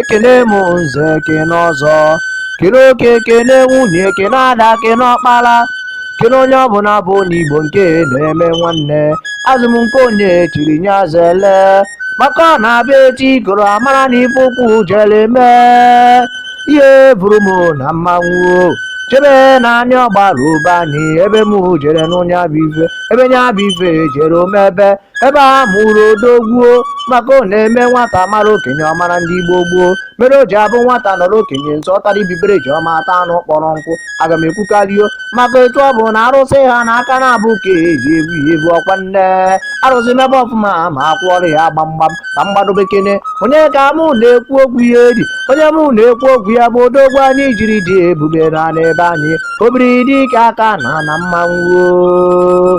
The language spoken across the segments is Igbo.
ekene m nze ekene ọzọ kene oke kene nwunye ekene ada kene ọkpara kene onye ọbụla bụ n'igbo nke na-eme nwanne asị m nke onye chiri nya zele maka ọ na-abịa echi ka ọra mara na ife ukwu jere mee ihe buru m na mmanwụ jebe n'anị ọgbaru be anyị ebe m jere nụ nya bụ ife ebe nya bụ ife jere o mebe ebe a mụrụ odogwuo maka ọ na-eme nwata mara okenye ọ mara ndị gboo gboo mere o ji abụ nwata nọrọ okenye nso ọ tara ibibere ji ọma ata anụ kpọrọ nkụ aga m ekwukarịo maka etu ọbụna arụsị ha n'aka na-abụ ka eji ebu ya ebu ọkwa na arụsị mebe ọfụma ma akụọrọ ya gbamgbam ka mgbado bekene onye ka mụ na-ekwu okwu ya edi onye mụ na-ekwu okwu ya bụ odogwu anyị jiri dị ebube na n'ebe anyị obiri dike aka na na mmanwụ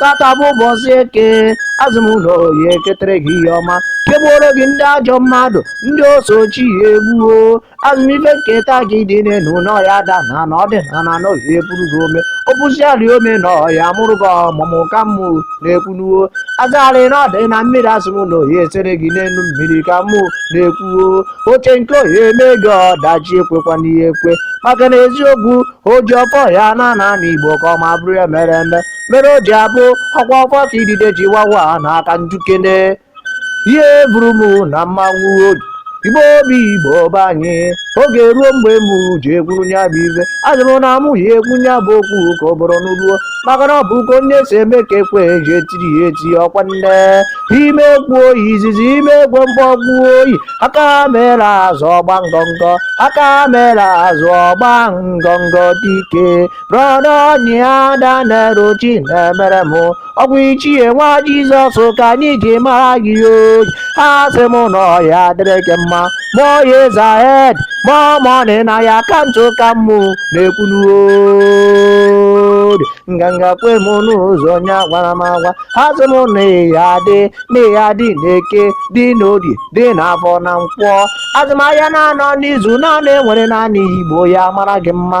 tata bụ ụbọchị eke asị m na ọ ya eketere gị ihe ọma kegbuoro gị ndị ajọ mmadụ ndị oso chi ya egbuo asị m ife nketa gị dị n'elu na ọ ya ada n'ana ọ dị n'ana na ọ ya epuru gị ome o pusịa rị ome na ọ ya amụrụ gị ọmụmụ ka mụ na-ekwunuo asịrị na ọ dị na mmiri asị m na ọ ya esere gị n'elu mmiri ka mụ na-ekwuo oche nke ọ ya eme gị ọdachi ekwekwana ya ekwe maka na eziokwu oji ọfọ ya ana n'igbo ka ọ ma bụrụ ya mere eme mere o ji abụ ọkwa ọfọ ka idide ji wawa ana ka m jụkene ihe buru m na mmanwụ oji igbo obi igbo be anyị oge ruo mgbe m ji ekwuru nya bụ ife asị m na mụ ya ekwu nya bụ okwu ka ọ bụrụ n'uruo maka na ọ bụ ka onye si eme ka ekwe ji etiri ya eti ọkwa na ime ekwe oyi izizi ime ekwe mkpọgbu oyi aka mere azụ ọ gbaa ngọngọ aka mere azụ ọ gbaa ngọngọ dike brọda onye ada na-ero chi na-emere m ọgwụ ichie nwa jizọs ka anyị ji mara gị oyi asị m na ọ ya adịrị gị mma more years ahead more money na your account ka mụ na-ekwunuo nganga kwe m n'ụzọ onye agwara m agwa asị m na ị ya adị na ị ya adị n'eke dị n'orie dị n'afọ na nkwọ asị m ahịa naanọ n'izu naanị enwere n'anị igbo ya mara gị mma